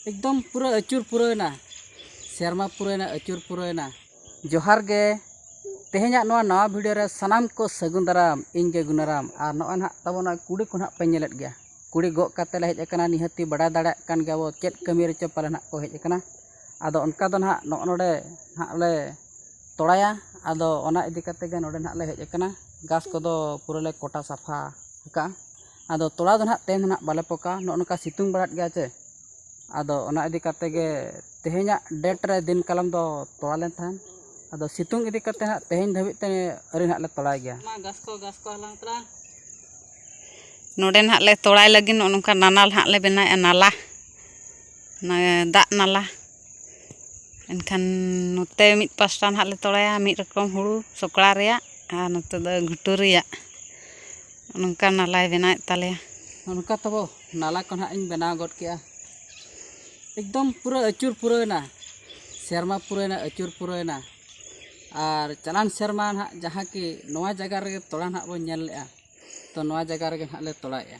ᱮᱠᱫᱚᱢ ᱯᱩᱨᱟᱹ ᱟᱹᱪᱩᱨ ᱯᱩᱨᱟᱹᱣᱮᱱᱟ ᱥᱮᱨᱢᱟ ᱯᱩᱨᱟᱹᱣᱮᱱᱟ ᱟᱹᱪᱩᱨ ᱯᱩᱨᱟᱹᱣᱮᱱᱟ ᱡᱚᱦᱟᱨ ᱜᱮ ᱛᱮᱦᱮᱧᱟᱜ ᱱᱚᱣᱟ ᱱᱟᱣᱟ ᱵᱷᱤᱰᱤᱭᱳ ᱨᱮ ᱥᱟᱱᱟᱢ ᱠᱚ ᱥᱟᱹᱜᱩᱱ ᱫᱟᱨᱟᱢ ᱤᱧ ᱜᱮ ᱜᱩᱱᱟᱨᱟᱢ ᱟᱨ ᱱᱚᱜᱼᱚᱭ ᱱᱟᱦᱟᱜ ᱛᱟᱵᱚ ᱱᱚᱜᱼᱚᱭ ᱠᱩᱲᱤ ᱠᱚ ᱱᱟᱦᱟᱜ ᱯᱮ ᱧᱮᱞᱮᱫ ᱜᱮᱭᱟ ᱠᱩᱲᱤ ᱜᱚᱜ ᱠᱟᱛᱮ ᱞᱮ ᱦᱮᱡ ᱟᱠᱟᱱᱟ ᱱᱤᱦᱟᱹᱛᱤ ᱵᱟᱰᱟᱭ ᱫᱟᱲᱮᱭᱟᱜ ᱠᱟᱱ ᱜᱮᱭᱟ ᱵᱚ ᱪᱮᱫ ᱠᱟᱹᱢᱤ ᱨᱮᱪᱚ ᱯᱟᱞᱮ ᱱᱟᱦᱟᱜ ᱠᱚ ᱦᱮᱡ ᱟᱠᱟᱱᱟ ᱟᱫᱚ ᱚᱱᱠᱟ ᱫᱚ ᱱᱟᱦᱟᱜ ᱱᱚᱜᱼᱚ ᱱᱚᱰᱮ ᱱᱟᱦᱟᱜ ᱞᱮ ᱛᱚᱲᱟᱭᱟ ᱟᱫᱚ ᱚᱱᱟ ᱤᱫᱤ ᱠᱟᱛᱮ ᱜᱮ ᱱᱚᱰᱮ ᱱᱟᱦᱟᱜ ᱞᱮ ᱦᱮᱡ ᱟᱠᱟᱱᱟ ᱜᱷᱟᱥ ᱠᱚᱫᱚ ᱯᱩᱨᱟᱹ ᱞᱮ ᱠᱚᱴᱟ ᱥᱟᱯᱷᱟ ᱟᱠᱟᱫᱼᱟ ᱟᱫᱚ ᱛᱚᱞᱟ ᱫᱚ ᱱᱟᱦᱟᱜ ᱛᱮᱦᱮᱧ ᱫᱚ ᱱᱟᱦᱟᱜ ᱵᱟᱞᱮ ᱯᱚᱠᱟ ᱱᱚᱜᱼᱚ ᱱᱚᱝᱠᱟ ᱥᱤᱛᱩᱝ ᱵᱟᱲᱟᱭᱮᱫ ᱜᱮᱭᱟᱭ ᱥᱮ ᱟᱫᱚ ᱚᱱᱟ ᱤᱫᱤ ᱠᱟᱛᱮᱫ ᱜᱮ ᱛᱮᱦᱮᱧᱟᱜ ᱰᱮᱴ ᱨᱮ ᱫᱤᱱ ᱠᱟᱞᱚᱢ ᱫᱚ ᱛᱚᱞᱟ ᱞᱮᱱ ᱛᱟᱦᱮᱱ ᱟᱫᱚ ᱥᱤᱛᱩᱝ ᱤᱫᱤ ᱠᱟᱛᱮᱫ ᱱᱟᱦᱟᱜ ᱛᱮᱦᱮᱧ ᱫᱷᱟᱹᱵᱤᱡ ᱛᱮ ᱟᱹᱣᱨᱤ ᱱᱟᱦᱟᱜ ᱞᱮ ᱛᱚᱞᱟᱭ ᱜᱮᱭᱟ ᱱᱚᱰᱮ ᱱᱟᱦᱟᱜ ᱞᱮ ᱛᱚᱞᱟᱭ ᱞᱟᱹᱜᱤᱫ ᱱᱚᱜᱼᱚ ᱱᱚᱝᱠᱟ ᱱᱟᱞᱟ ᱱᱟᱦᱟᱜ ᱞᱮ ᱵᱮᱱᱟᱣᱮᱫᱼᱟ ᱱᱟᱞᱟ ᱚᱱᱟ ᱫᱟᱜ ᱱᱟᱞᱟ ᱮᱱᱠᱷᱟᱱ ᱱᱚᱛᱮ ᱢᱤᱫ ᱯᱟᱥᱴᱟ ᱱᱟᱦᱟᱜ ᱞᱮ ᱛᱚᱲᱟᱭᱟ ᱢᱤᱫ ᱨᱚᱠᱚᱢ ᱦᱩᱲᱩ ᱥᱚᱠᱲᱟ ᱨᱮᱭᱟᱜ ᱟᱨ ᱱᱚᱛᱮ ᱫᱚ ᱜᱷᱩᱴᱩ ᱨᱮᱭᱟᱜ ᱱᱚᱝᱠᱟ ᱱᱟᱞᱟᱭ ᱵᱮᱱᱟᱣᱮᱫ ᱛᱟᱞᱮᱭᱟ ᱚᱱᱠᱟ ᱛᱟᱵᱚ ᱱᱟᱞᱟ ᱠᱚ ᱱᱟᱦᱟᱜ ᱤᱧ ᱵᱮᱱᱟᱣ ᱜᱚᱫ ᱠᱮᱜᱼᱟ ᱮᱠᱫᱚᱢ ᱯᱩᱨᱟᱹ ᱟᱹᱪᱩᱨ ᱯᱩᱨᱟᱹᱣᱮᱱᱟ ᱥᱮᱨᱢᱟ ᱯᱩᱨᱟᱹᱣᱮᱱᱟ ᱟᱹᱪᱩᱨ ᱯᱩᱨᱟᱹᱣᱮᱱᱟ ᱟᱨ ᱪᱟᱞᱟᱣᱮᱱ ᱥᱮᱨᱢᱟ ᱱᱟᱦᱟᱜ ᱡᱟᱦᱟᱸ ᱠᱤ ᱱᱚᱣᱟ ᱡᱟᱭᱜᱟ ᱨᱮᱜᱮ ᱛᱚᱲᱟ ᱱᱟᱦᱟᱜ ᱵᱚᱱ ᱧᱮᱞ ᱞᱮᱜᱼᱟ ᱛᱚ ᱱᱚᱣᱟ ᱡᱟᱭᱜᱟ ᱨᱮᱜᱮ ᱱᱟᱦᱟᱜ ᱞᱮ ᱛᱚᱲᱟᱭᱮᱜᱼᱟ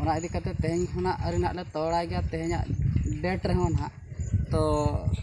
ᱚᱱᱟ ᱤᱫᱤ ᱠᱟᱛᱮᱫ ᱛᱮᱦᱮᱧ ᱠᱷᱚᱱᱟᱜ ᱟᱹᱣᱨᱤ ᱱᱟᱦᱟᱜ ᱞᱮ ᱛᱚᱲᱟᱭ ᱜᱮᱭᱟ ᱛᱮᱦᱮᱧᱟᱜ ᱰᱮᱴ ᱨᱮᱦᱚᱸ ᱱᱟᱦᱟᱜ ᱛᱚ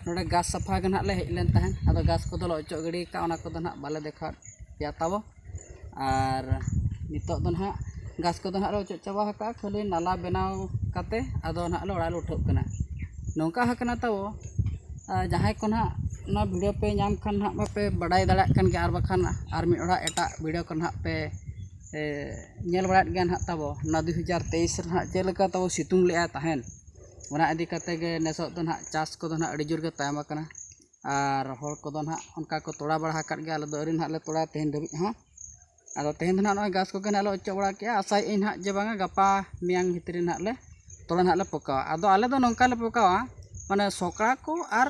ᱱᱚᱰᱮ ᱜᱷᱟᱥ ᱥᱟᱯᱷᱟ ᱜᱮ ᱱᱟᱦᱟᱜ ᱞᱮ ᱦᱮᱡ ᱞᱮᱱ ᱛᱟᱦᱮᱸᱫ ᱟᱫᱚ ᱜᱷᱟᱥ ᱠᱚᱫᱚᱞᱮ ᱚᱪᱚᱜ ᱜᱤᱰᱤ ᱠᱟᱜᱼᱟ ᱚᱱᱟ ᱠᱚᱫᱚ ᱱᱟᱦᱟᱜ ᱵᱟᱞᱮ ᱫᱮᱠᱷᱟᱣᱮᱫ ᱯᱮᱭᱟ ᱛᱟᱵᱚ ᱟᱨ ᱱᱤᱛᱚᱜ ᱫᱚ ᱱᱟᱦᱟᱜ ᱜᱷᱟᱥ ᱠᱚᱫᱚ ᱱᱟᱦᱟᱜ ᱞᱮ ᱚᱪᱚᱜ ᱪᱟᱵᱟ ᱟᱠᱟᱫᱼᱟ ᱠᱷᱟᱹᱞᱤ ᱱᱟᱞᱟ ᱵᱮᱱᱟᱣ ᱠᱟᱛᱮᱫ ᱟᱫᱚ ᱱᱟᱦᱟᱜ ᱞᱮ ᱚᱲᱟᱜ ᱞᱮ ᱩᱴᱷᱟᱹᱜ ᱠᱟᱱᱟ ᱱᱚᱝᱠᱟ ᱟᱠᱟᱱᱟ ᱛᱟᱵᱚ ᱡᱟᱦᱟᱸᱭ ᱠᱚ ᱱᱟᱦᱟᱜ ᱱᱚᱣᱟ ᱵᱷᱤᱰᱭᱳ ᱯᱮ ᱧᱟᱢ ᱠᱷᱟᱱ ᱱᱟᱦᱟᱜ ᱢᱟᱯᱮ ᱵᱟᱰᱟᱭ ᱫᱟᱲᱮᱭᱟᱜ ᱠᱟᱱ ᱜᱮᱭᱟ ᱟᱨ ᱵᱟᱠᱷᱟᱱ ᱟᱨ ᱢᱤᱫ ᱦᱚᱲᱟᱜ ᱮᱴᱟᱜ ᱵᱷᱤᱰᱭᱳ ᱠᱚ ᱱᱟᱦᱟᱜ ᱯᱮ ᱧᱮᱞ ᱵᱟᱲᱟᱭᱮᱫ ᱜᱮᱭᱟ ᱱᱟᱦᱟᱜ ᱛᱟᱵᱚ ᱚᱱᱟ ᱫᱩ ᱦᱟᱡᱟᱨ ᱛᱮᱭᱤᱥ ᱨᱮ ᱱᱟᱦᱟᱜ ᱪᱮᱫ ᱞᱮᱠᱟ ᱛᱟᱵᱚ ᱥᱤᱛᱩᱝ ᱞᱮᱫᱟᱭ ᱛᱟᱦᱮᱸᱫ ᱚᱱᱟ ᱤᱫᱤ ᱠᱟᱛᱮᱫ ᱜᱮ ᱱᱤᱛᱚᱜ ᱫᱚ ᱱᱟᱦᱟᱜ ᱪᱟᱥ ᱠᱚᱫᱚ ᱱᱟᱦᱟᱜ ᱟᱹᱰᱤ ᱡᱳᱨ ᱜᱮ ᱛᱟᱭᱚᱢ ᱟᱠᱟᱱᱟ ᱟᱨ ᱦᱚᱲ ᱠᱚᱫᱚ ᱱᱟᱦᱟᱜ ᱚᱱᱠᱟ ᱠᱚ ᱛᱚᱲᱟ ᱵᱟᱲᱟ ᱟᱠᱟᱫ ᱜᱮᱭᱟ ᱟᱞᱮ ᱫᱚ ᱟᱹᱣᱨᱤ ᱱᱟᱦᱟᱜ ᱞᱮ ᱛᱚᱲᱟᱭᱟ ᱛᱮᱦᱮᱧ ᱫᱷᱟᱹᱵᱤᱡ ᱦᱚᱸ ᱟᱫᱚ ᱛᱮᱦᱮᱧ ᱫᱚ ᱱᱟᱦᱟᱜ ᱱᱚᱜᱼᱚᱭ ᱜᱷᱟᱥ ᱠᱚᱜᱮ ᱱᱟᱦᱟᱜ ᱞᱮ ᱚᱪᱚᱜ ᱵᱟᱲᱟ ᱠᱮᱫᱼᱟ ᱟᱥᱟᱭᱮᱫ ᱟᱹᱧ ᱱᱟᱦᱟᱜ ᱡᱮ ᱵᱟᱝᱟ ᱜᱟᱯᱟ ᱢᱮᱭᱟᱝ ᱵᱷᱤᱛᱨᱤ ᱱᱟᱦᱟᱜ ᱞᱮ ᱛᱚᱲᱟ ᱱᱟᱦᱟᱜ ᱞᱮ ᱯᱚᱠᱟᱣᱟ ᱟᱫᱚ ᱟᱞᱮ ᱫᱚ ᱱᱚᱝᱠᱟ ᱞᱮ ᱯᱚᱠᱟᱣᱟ ᱢᱟᱱᱮ ᱥᱚᱠᱲᱟ ᱠᱚ ᱟᱨ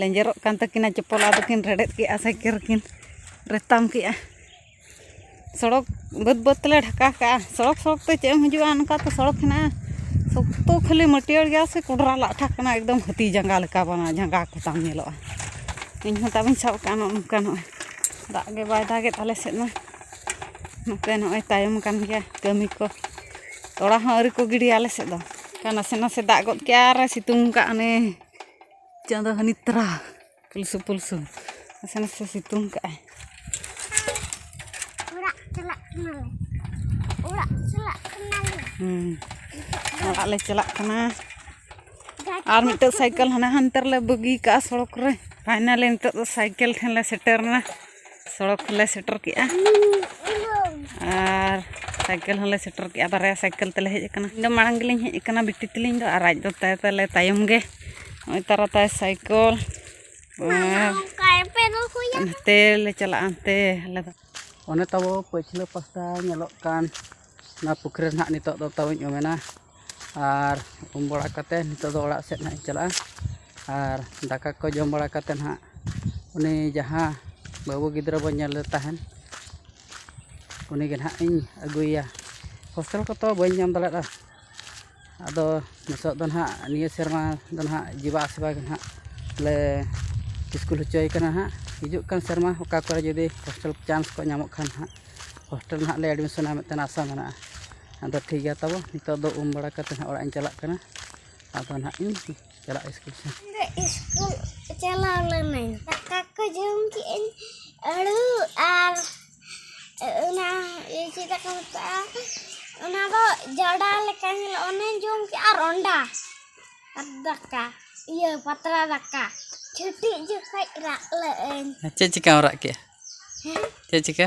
ᱞᱮᱸᱡᱮᱨᱚᱜ ᱠᱟᱱ ᱛᱟᱹᱠᱤᱱᱟ ᱪᱚᱯᱚᱞ ᱟᱫᱚ ᱠᱤᱱ ᱨᱮᱰᱮᱫ ᱠᱮᱫᱼᱟ ᱥᱟᱭᱠᱮᱞ ᱠᱤᱱ ᱨᱮᱛᱟᱢ ᱠᱮᱫᱼᱟ ᱥᱚᱲᱚᱠ ᱵᱟᱹᱫᱽ ᱵᱟᱹᱫᱽ ᱛᱮᱞᱮ ᱰᱷᱟᱠᱟ ᱠᱟᱜᱼᱟ ᱥᱚᱲᱚᱠ ᱥᱚᱲᱚᱠ ᱛᱮ ᱪᱮᱫ ᱮᱢ ᱦᱤᱡᱩᱜᱼᱟ ᱚᱱᱠᱟ ᱛᱮ ᱥᱚᱲᱚᱠ ᱦᱮᱱᱟᱜᱼᱟ ᱥᱚᱠᱛᱚ ᱠᱷᱟᱹᱞᱤ ᱢᱟᱹᱴᱭᱟᱹᱲ ᱜᱮᱭᱟ ᱥᱮ ᱠᱚᱰᱨᱟ ᱞᱟᱴᱷᱟ ᱠᱟᱱᱟ ᱮᱠᱫᱚᱢ ᱦᱟᱹᱛᱤ ᱡᱟᱸᱜᱟ ᱞᱮᱠᱟ ᱵᱟᱝᱟ ᱡᱟᱸᱜᱟ ᱠᱚᱛᱟᱢ ᱧᱮᱞᱚᱜᱼᱟ ᱤᱧ ᱦᱚᱸ ᱛᱟᱵᱚᱱ ᱥᱟᱵ ᱠᱟᱜᱼᱟ ᱱᱚᱜᱼᱚ ᱱᱚᱝᱠᱟ ᱱᱚᱜᱼᱚᱭ ᱫᱟᱜ ᱜᱮ ᱵᱟᱭ ᱫᱟᱜᱮᱫ ᱟᱞᱮ ᱥᱮᱫ ᱢᱟ ᱱᱚᱛᱮ ᱱᱚᱜᱼᱚᱭ ᱛᱟᱭᱚᱢ ᱠᱟᱱ ᱜᱮᱭᱟ ᱠᱟᱹᱢᱤ ᱠᱚ ᱛᱚᱲᱟ ᱦᱚᱸ ᱟᱹᱣᱨᱤ ᱠᱚ ᱜᱤᱰᱤᱭᱟ ᱟᱞᱮ ᱥᱮᱫ ᱫᱚ ᱱᱟᱥᱮ ᱱᱟᱥᱮ ᱫᱟᱜ ᱜᱚᱫ ᱠᱮᱫᱼᱟ ᱟᱨᱮ ᱥᱤᱛᱩᱝ ᱠᱟᱜᱼᱟ ᱚᱱᱮ ᱪᱟᱸᱫᱚ ᱦᱟᱹᱱᱤ ᱛᱟᱨᱟ ᱯᱩᱞᱥᱩ ᱯᱩᱞᱥᱩ ᱱᱟᱥᱮ ᱱᱟᱥᱮ ᱥᱤᱛᱩᱝ ᱠᱟᱜᱼᱟᱭ ᱚᱲᱟᱜ ᱪᱟᱞᱟᱜ ᱠᱟᱱᱟᱞᱮ ᱚᱲᱟᱜ ᱪᱟᱞᱟᱜ ᱠᱟᱱᱟᱞᱮ ᱦᱩᱸ ᱚᱲᱟᱜ ᱞᱮ ᱪᱟᱞᱟᱜ ᱠᱟᱱᱟ ᱟᱨ ᱢᱤᱫᱴᱮᱡ ᱥᱟᱭᱠᱮᱞ ᱦᱟᱱᱮ ᱦᱟᱱᱛᱮ ᱨᱮᱞᱮ ᱵᱟᱹᱜᱤ ᱠᱟᱜᱼᱟ ᱥᱚᱲᱚᱠ ᱨᱮ ᱯᱷᱟᱭᱱᱟᱞᱤ ᱱᱤᱛᱚᱜ ᱫᱚ ᱥᱟᱭᱠᱮᱞ ᱴᱷᱮᱱ ᱞᱮ ᱥᱮᱴᱮᱨ ᱮᱱᱟ ᱥᱚᱲᱚᱠ ᱞᱮ ᱥᱮᱴᱮᱨ ᱠᱮᱜᱼᱟ ᱟᱨ ᱥᱟᱭᱠᱮᱞ ᱦᱚᱸᱞᱮ ᱥᱮᱴᱮᱨ ᱠᱮᱜᱼᱟ ᱵᱟᱨᱭᱟ ᱥᱟᱭᱠᱮᱞ ᱛᱮᱞᱮ ᱦᱮᱡ ᱟᱠᱟᱱᱟ ᱤᱧ ᱫᱚ ᱢᱟᱲᱟᱝ ᱜᱮᱞᱤᱧ ᱦᱮᱡ ᱟᱠᱟᱱᱟ ᱵᱤᱴᱤ ᱛᱟᱹᱞᱤᱧ ᱫᱚ ᱟᱨ ᱟᱡ ᱫᱚ ᱛᱟᱭ ᱛᱟᱞᱮ ᱛᱟᱭᱚᱢ ᱜᱮ ᱱᱚᱜᱼᱚᱭ ᱛᱟᱨᱟ ᱛᱟᱭ ᱥᱟᱭᱠᱮᱞ ᱦᱟᱱᱛᱮ ᱞᱮ ᱪᱟᱞᱟᱜᱼᱟ ᱦᱟᱱᱛᱮ ᱟᱞᱮ ᱫᱚ ᱚᱱᱮ ᱛᱟᱵᱚ ᱯᱟᱹᱪᱷᱞᱟᱹ ᱯᱟᱥᱴᱟ ᱧᱮᱞᱚᱜ ᱠᱟᱱ ᱚᱱᱟ ᱯᱩᱠᱷᱨᱤ ᱨᱮ ᱱᱟᱦᱟᱜ ᱱᱤᱛᱚᱜ ᱫᱚ ᱛᱟᱵᱚᱧ ᱩᱢᱮᱱᱟ ᱟᱨ ᱩᱢ ᱵᱟᱲᱟ ᱠᱟᱛᱮᱫ ᱱᱤᱛᱚᱜ ᱫᱚ ᱚᱲᱟᱜ ᱥᱮᱫ ᱦᱟᱸᱜ ᱤᱧ ᱪᱟᱞᱟᱜᱼᱟ ᱟᱨ ᱫᱟᱠᱟ ᱠᱚ ᱡᱚᱢ ᱵᱟᱲᱟ ᱠᱟᱛᱮᱫ ᱦᱟᱸᱜ ᱩᱱᱤ ᱡᱟᱦᱟᱸ ᱵᱟᱹᱵᱩ ᱜᱤᱫᱽᱨᱟᱹ ᱵᱚᱱ ᱧᱮᱞᱮ ᱛᱟᱦᱮᱱ ᱩᱱᱤ ᱜᱮ ᱦᱟᱸᱜ ᱤᱧ ᱟᱹᱜᱩᱭᱮᱭᱟ ᱦᱳᱥᱴᱮᱞ ᱠᱚᱛᱚ ᱵᱟᱹᱧ ᱧᱟᱢ ᱫᱟᱲᱮᱭᱟᱫᱟ ᱟᱫᱚ ᱱᱤᱛᱚᱜ ᱫᱚ ᱦᱟᱸᱜ ᱱᱤᱭᱟᱹ ᱥᱮᱨᱢᱟ ᱫᱚ ᱦᱟᱸᱜ ᱡᱤᱵᱟ ᱟᱥᱤᱵᱟ ᱜᱮ ᱦᱟᱸᱜ ᱞᱮ ᱥᱠᱩᱞ ᱦᱚᱪᱚᱭᱮ ᱠᱟᱱᱟ ᱦᱟᱸᱜ ᱦᱤᱡᱩᱜ ᱠᱟᱱ ᱥᱮᱨᱢᱟ ᱚᱠᱟ ᱠᱚᱨᱮ ᱡᱩᱫᱤ ᱦᱳᱥᱴᱮᱞ ᱪᱟᱱᱥ ᱠᱚ ᱧᱟᱢᱚᱜ ᱠᱷᱟᱱ ᱦᱟᱸᱜ ᱦᱳᱥᱴᱮᱞ ᱦᱟᱸᱜ ᱞᱮ ᱮᱰᱢᱤᱥᱚᱱᱟ ᱢᱤᱫᱴᱟᱱ ᱟᱥᱟ ᱢᱮᱱᱟᱜᱼᱟ ᱟᱫᱚ ᱴᱷᱤᱠ ᱜᱮᱭᱟ ᱛᱟᱵᱚ ᱱᱤᱛᱚᱜ ᱫᱚ ᱩᱢ ᱵᱟᱲᱟ ᱠᱟᱛᱮ ᱦᱟᱸᱜ ᱚᱲᱟᱜ ᱤᱧ ᱪᱟᱞᱟᱜ ᱠᱟᱱᱟ ᱟᱫᱚ ᱱᱟᱦᱟᱜ ᱤᱧ ᱪᱟᱞᱟᱜᱼᱟ ᱥᱠᱩᱞ ᱥᱮᱫ ᱥᱠᱩᱞ ᱪᱟᱞᱟᱣ ᱞᱮᱱᱟᱹᱧ ᱫᱟᱠᱟ ᱠᱚ ᱡᱚᱢ ᱠᱮᱜᱼᱟᱹᱧ ᱟᱹᱲᱩ ᱟᱨ ᱚᱱᱟ ᱪᱮᱫ ᱫᱟᱠᱟ ᱢᱮᱛᱟᱜᱼᱟ ᱚᱱᱟ ᱫᱚ ᱡᱟᱰᱟ ᱞᱮᱠᱟ ᱧᱮᱞᱚᱜ ᱚᱱᱟᱧ ᱡᱚᱢ ᱠᱮᱜᱼᱟ ᱟᱨ ᱚᱱᱰᱟ ᱟᱨ ᱫᱟᱠᱟ ᱤᱭᱟᱹ ᱯᱟᱛᱲᱟ ᱫᱟᱠᱟ ᱪᱷᱩᱴᱤᱜ ᱡᱚᱠᱷᱚᱡ ᱨᱟᱜ ᱞᱟᱹᱜ ᱟᱹᱧ ᱪᱮᱫ ᱪᱤᱠᱟᱹᱢ ᱨᱟᱜ ᱠᱮᱜᱼᱟ ᱦᱮᱸ ᱪᱮᱫ ᱪᱤᱠᱟᱹ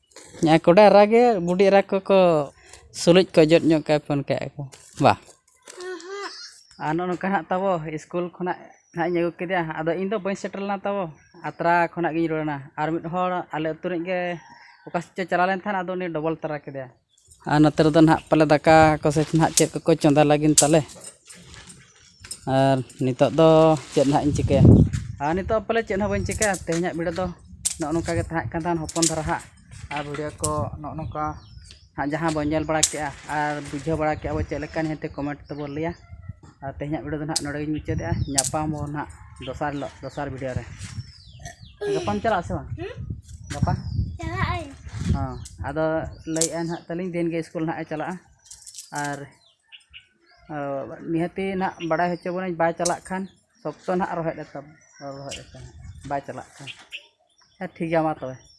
ᱦᱮᱸ ᱠᱚᱰᱟᱭ ᱨᱟᱜᱮ ᱵᱩᱰᱤ ᱮᱨᱟ ᱠᱚᱠᱚ ᱥᱩᱞᱩᱡ ᱠᱚ ᱚᱡᱚᱜ ᱧᱚᱜ ᱠᱟᱭ ᱯᱷᱳᱱ ᱠᱮᱜ ᱟᱠᱚ ᱵᱟ ᱟᱨ ᱱᱚᱜᱼᱚ ᱱᱚᱝᱠᱟ ᱦᱟᱸᱜ ᱛᱟᱵᱚ ᱥᱠᱩᱞ ᱠᱷᱚᱱᱟᱜ ᱦᱟᱸᱜ ᱤᱧ ᱟᱹᱜᱩ ᱠᱮᱫᱮᱭᱟ ᱟᱫᱚ ᱤᱧᱫᱚ ᱵᱟᱹᱧ ᱥᱮᱴᱮᱨ ᱞᱮᱱᱟ ᱛᱟᱵᱚ ᱟᱛᱨᱟ ᱠᱷᱚᱱᱟᱜ ᱜᱤᱧ ᱨᱩᱣᱟᱹᱲᱮᱱᱟ ᱟᱨ ᱢᱤᱫ ᱦᱚᱲ ᱟᱞᱮ ᱟᱹᱛᱩ ᱨᱮᱱᱤᱡ ᱜᱮ ᱚᱠᱟ ᱥᱮᱫ ᱪᱚᱭ ᱪᱟᱞᱟᱣ ᱞᱮᱱ ᱛᱟᱦᱮᱱ ᱟᱫᱚ ᱩᱱᱤ ᱰᱚᱵᱚᱞ ᱛᱟᱨᱟ ᱠᱮᱫᱮᱭᱟᱭ ᱟᱨ ᱱᱚᱛᱮ ᱨᱮᱫᱚ ᱱᱟᱦᱟᱜ ᱯᱟᱞᱮ ᱫᱟᱠᱟ ᱠᱚ ᱥᱮ ᱱᱟᱦᱟᱜ ᱪᱮᱫ ᱠᱚᱠᱚ ᱪᱚᱸᱫᱟ ᱞᱟᱹᱜᱤᱫ ᱛᱟᱞᱮ ᱟᱨ ᱱᱤᱛᱳᱜ ᱫᱚ ᱪᱮᱫ ᱱᱟᱦᱟᱜ ᱤᱧ ᱪᱤᱠᱟᱹᱭᱟ ᱟᱨ ᱱᱤᱛᱳᱜ ᱯᱟᱞᱮ ᱪᱮᱫ ᱦᱚᱸ ᱵᱟᱹᱧ ᱪᱤᱠᱟᱹᱭᱟ ᱛᱮᱦᱮᱧᱟᱜ ᱵᱷᱤᱰᱤᱭᱳ ᱫᱚ ᱱᱚᱜᱼᱚ ᱱᱚᱝᱠᱟ ᱜᱮ ᱛᱟᱦᱮᱸ ᱠᱟᱱ ᱛᱟᱦᱮᱱ ᱦᱚᱯᱚᱱ ᱫᱷᱟᱨᱟ ᱦᱟᱸᱜ ᱟᱨ ᱵᱷᱤᱰᱤᱭᱳ ᱠᱚ ᱱᱚᱜᱼᱚ ᱱᱚᱝᱠᱟ ᱦᱟᱸᱜ ᱡᱟᱦᱟᱸ ᱵᱚᱱ ᱧᱮᱞ ᱵᱟᱲᱟ ᱠᱮᱜᱼᱟ ᱟᱨ ᱵᱩᱡᱷᱟᱹᱣ ᱵᱟᱲᱟ ᱠᱮᱜᱼᱟ ᱵᱚᱱ ᱪᱮᱫ ᱞᱮᱠᱟ ᱱᱤᱦᱟᱹᱛᱤ ᱠᱚᱢᱮᱱᱴ ᱛᱮᱵᱚᱱ ᱞᱟᱹᱭᱟ ᱟᱨ ᱛᱮᱦᱮᱧᱟᱜ ᱵᱷᱤᱰᱤᱭᱳ ᱫᱚ ᱱᱟᱦᱟᱜ ᱱᱚᱰᱮ ᱜᱮᱧ ᱢᱩᱪᱟᱹᱫᱮᱜᱼᱟ ᱧᱟᱯᱟᱢ ᱟᱵᱚᱱ ᱱᱟᱦᱟᱜ ᱫᱚᱥᱟᱨ ᱦᱤᱞᱳᱜ ᱫᱚᱥᱟᱨ ᱵᱷᱤᱰᱤᱭᱳ ᱨᱮ ᱜᱟᱯᱟᱢ ᱪᱟᱞᱟᱜ ᱟᱥᱮ ᱵᱟᱝ ᱜᱟᱯᱟ ᱪᱟᱞᱟᱜ ᱟᱹᱧ ᱦᱚᱸ ᱟᱫᱚ ᱞᱟᱹᱭᱮᱫᱼᱟ ᱱᱟᱦᱟᱜ ᱛᱟᱹᱞᱤᱧ ᱫᱤᱱ ᱜᱮ ᱥᱠᱩᱞ ᱱᱟᱦᱟᱜ ᱮ ᱪᱟᱞᱟᱜᱼᱟ ᱟᱨ ᱱᱤᱦᱟᱹᱛᱤ ᱱᱟᱦᱟᱜ ᱵᱟᱲᱟᱭ ᱦᱚᱪᱚ ᱵᱚᱱᱟᱹᱧ ᱵᱟᱭ ᱪᱟᱞᱟᱜ ᱠᱷᱟᱱ ᱥᱚᱠᱛᱚ ᱱᱟᱦᱟᱜ ᱨᱚᱦᱮᱫ ᱮ ᱛᱟᱵᱚᱱᱟ ᱨᱚᱦᱮᱫ ᱮ ᱛᱟᱵᱚᱱᱟ ᱵᱟᱭ ᱪᱟᱞᱟᱜ ᱠᱷᱟᱱ ᱦᱮᱸ ᱴᱷᱤᱠ ᱜᱮᱭᱟ ᱢᱟ ᱛᱚᱵᱮ